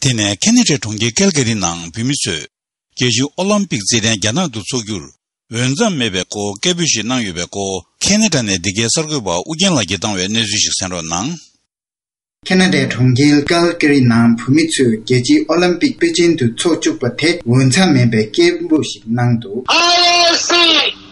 དེ་ནས་ཁེ་ནི་ཀྲེ་གྲོང་ཁྱེར་ཀལ་ཀེ་རི་ནང་བོད་མི་ཚོས་རྒྱལ་གཅེས་ཨོ་ལམ་པིག་རྩེད་འགྲན་རྒྱ་ནག་ཏུ་འཚོགས་རྒྱུར་འོས་མཚམས་མེད་པའི་སྐོར་སྐད་འབོད་ཞིག་གནང་ཡོད་པའི་སྐོར་ཁེ་ནེ་ཀྲ་ནས་འདི་གའི་གསར་འགོད་པ་ཨུ་རྒྱན་ལགས་ཀྱིས་བཏང་བའི་གནས་ཚུལ་ཞིག་གསན་རོགས་གནང། ཁེ་ནེ་ཀྲེ་གྲོང་ཁྱེར་ཀལ་ཀེ་རི་ནང་བོད་མི་ཚོས་རྒྱལ་གཅེས་ཨོ་ལམ་པིག་པེ་ཅིན་ཏུ་འཚོགས་བཅུག་པ་དེ་འོས་མཚམས་མེད་པའི་སྐད་འབོད་ཞིག་གནང་འདུག། ཨ་རེ་སི།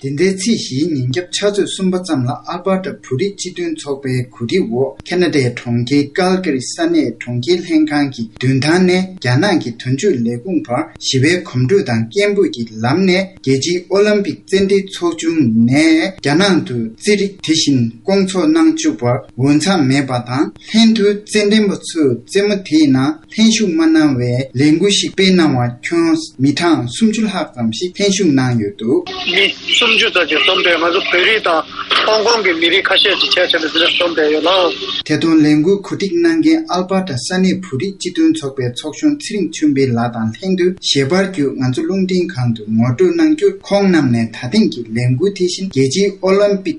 དེ་འདྲའི་ཚེས་བཞིའི་ཉིན་རྒྱབ་ཕྱག་ཚོད་གསུམ་པ་ཙམ་ལ་ཨལ་པར་ཏར་བོད་རིགས་སྤྱི་མཐུན་ཚོགས་པའི་གོ་སྒྲིག་འོག་ཁ་ན་ཏའི་གྲོང་ཁྱེར་ཀལ་ཀི་རི་ས་གནས་གྲོང་ཁྱེར་ལྷན་ཁང་གི་མདུན་ཐང་ནས་རྒྱ་ནག་གི་དོན་གཅོད་ལས་ཁུངས་བར་ཞི་བའི་གོམ་བགྲོད་དང་སྐད་འབོད་ཀྱི་ལམ་ནས་རྒྱལ་སྤྱིའི་ཨོ་ལམ་པིག་རྩེད་འགྲན་ཚོགས་ཆུང་ནས་རྒྱ་ནང་དུ་རྩེད་རིགས་དེ་བཞིན་བསྐོང་ཚོགས་གནང་བཅུག་པར་འོས་འཚམས་མེད་པ་དང་ལྷན་དུ་རྩེད་འགྲན་པ་ཚོས་རྩེད་མོ་དེའི་ནང་ལྷན་ཞུགས་མ་གནང་བའི་ལས་འགུལ་ཞིག་སྤེལ་གནང་བ་ཁྱོན་མི་གྲངས་སུམ་ཅུ་ལྷག་ཙམ་ཞིག་ལྷན་ཞུགས་གནང་ཡོད་འདུག། མི་སུམ་ཅུ་ཙམ་ཞིག་འཛོམས་པས་ང་ཚོ་བོད་རིགས་དང་ཧོང་ཀོང་གི་མི་རིགས་ཁ་ཤས་ཀྱིས་ཆེད་བཅར་ནས་འདི་ལ་འཛོམས་བསྡད་ཡོད་ལ། དེ་དོན་ལས་འགུལ་གོ་སྒྲིག་གནང་མཁན་ཨལ་པ་ཏྲ་ས་གནས་བོད་རིགས་སྤྱི་མཐུན་ཚོགས་པའི་ཚོགས་གཞོན་ཚེ་རིང་ཆོས་འཕེལ་ལགས་དང་ལྷན་དུ་ཞལ་པར་བརྒྱུད་ང་ཚོ་རླུང་འཕྲིན་ཁང་དུ་ངོ་སྤྲོད་གནང་རྒྱུར་ཁོང་རྣམས་ནས་ད་ཐེངས་ཀྱི་ལས་འགུལ་དེ་བཞིན་རྒྱལ་སྤྱིའི་ཨོ་ལིམ་པིག་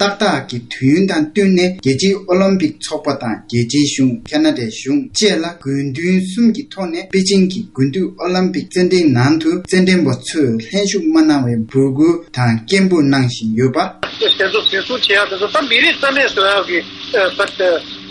ཏག་ཏག་གི་དུས་ཡུན་དང་བསྟུན་ནས་རྒྱལ་སྤྱིའི་ཨོ་ལིམ་པིག་ཚོགས་པ་དང་རྒྱལ་སྤྱིའི་གཞུང་ཁ་ན་ཏའི་གཞུང་བཅས་ལ་དགོས་འདུན་གསུམ་གྱི་ཐོག་ནས་པེ་ཅིང་གི་དགུན་དུས་ཨོ་ལིམ་པིག་རྩེད་འགྲན་ནང་དུ་རྩེད་འགྲན་པ་ཚོས་ལྷན་ཞུགས་མ་གནང་བའི་འབོད་སྐུལ་དང་སྐད་འབོད་གནང་བཞིན་ཡོད་པ། དེ་ཚོ་འཛིན་བཟུང་བྱས་ཡག་དེ་ཚོ་ད་མི་རིགས་རྩ་མེད་བཟོ་ཡག་གི་ཟེར་ཏེ།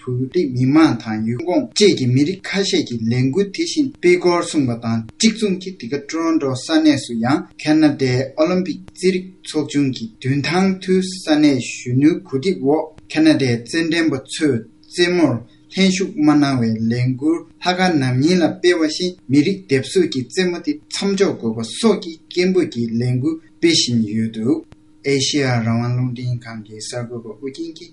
བོད་རིགས་མི་དམངས་དང་ཡུལ་ཁོངས་བཅས་ཀྱི་མི་རིགས་ཁ་ཤས་ཀྱིས་ལས་འགུལ་དེ་བཞིན་སྤེལ་སྐོར་གསུངས་པ་དང་གཅིག་མཚུངས་ཀྱིས་འདི་ག Toronto ས་གནས་སུ་ཡང Canada Olympic རྩིས་རིག་ཚོགས་ཆུང་གི་མདུན་ཐང་ཐུའུ་ས་གནས་གཞོན་ནུའི་གོ་སྒྲིག་འོག Canada རྩེད་འགྲན་པ་ཚོས་རྩེད་མོར་ལྷན་ཞུགས་མ་གནང་བའི་ལས་འགུལ་ལྷ་ཁ་ནམ་ཉིན་ལ་སྤེལ་བ་བཞིན་མི་རིགས་སྡེབ་གསོད་ཀྱི་རྩེད་མོ་དེ་མཚམས་འཇོག་དགོས་པ་སོགས་ཀྱི་སྐད་འབོད་ཀྱི་ལས་འགུལ་སྤེལ་བཞིན་ཡོད་འདུག་ཨེ་ཤེ་ཡ་རང་དབང་རླུང་འཕྲིན་ཁང་གི་གསར་འགོད་པ་ཨུ་རྒྱན་གྱིས